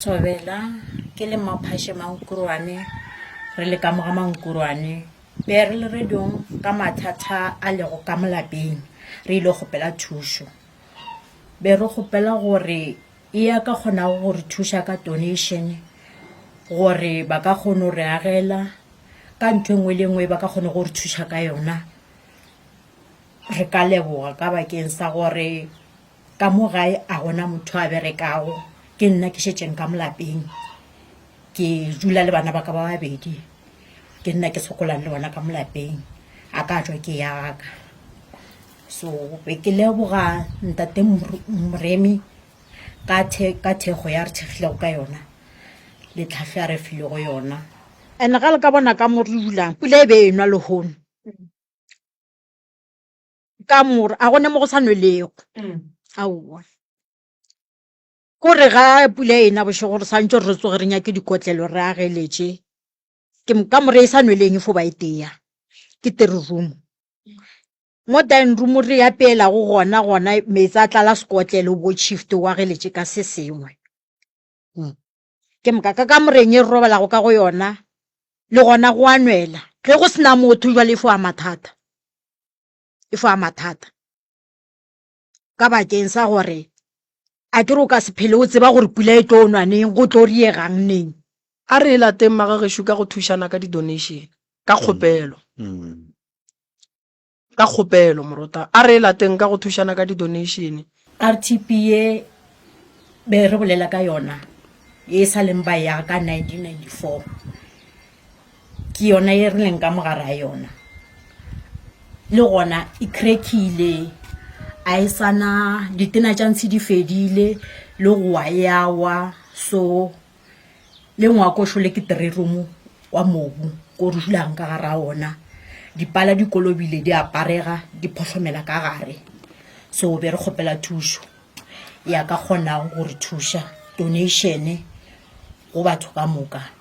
Thobela, Ke le Mmaphashe Mankuruane, re le ka moga Mankuruane. Be re le radiong ka mathata a lego ka molapeng, re ile kgopela thušo. Be re kgopela gore e ya ka kgonago go re thuša ka donation gore ba ka kgono re agela ka ntho engwe le engwe ba ka kgone go re thuša ka yona. Re ka leboga ka bakeng sa gore Ka mo gae a gona motho a berekago, ke nna ke šetšeng ka mo lapeng. Ke dula le bana ba ka ba babedi, ke nna ke sokolang le bona ka mo lapeng. A ka tšwa ke ya ka. So be ke leboga Ntate Moremi ka ka thekgo ya re thekgilego ka yona le tlhahlo ya re filego yona. And ga le ka bona ka mo re dulang, pula e be e nwa lehono. ka mora a gone mo go sa nwelego mm. aowa ko re ga pula e na bošego re swantse re tsoge re nyake dikotlelo re ageletse ke ka mora e sa nweleng e fo ba e teya ke tere room mo dine room re ya peela go gona gona metsi a tlala sekotlelo bo shift wa ge letse ka se sengwe hmm. Ke moka ka kamoreng e re robalago ka go yona, le gona go a nwela. Ge go sena motho jwale e fo a mathata, e fo a mathata ka bakeng sa gore a ke re o ka se phele o tseba gore pula e tlo nwa neng go tlo riegang neng a re e lateng magagešu ka go thušana ka di-donation ka kgopelo Ka kgopelo, morota a re e lateng ka go thušana ka didoneišene. RTP ye be re bolela ka yona ye e sa leng ba ya ka 1994 ke yona ye re leng ka mogare ga yona. Le gona e crack-ile, a e sa na, ditena tša ntshi di fedile le go wa e a wa. So le ngwako šole ke three room wa mobu ko re dulang ka gara ona dipala di kolobile di aparega di phohlomela ka gare so be re kgopela thušo ya ka kgonago gore thuša donation go batho ka moka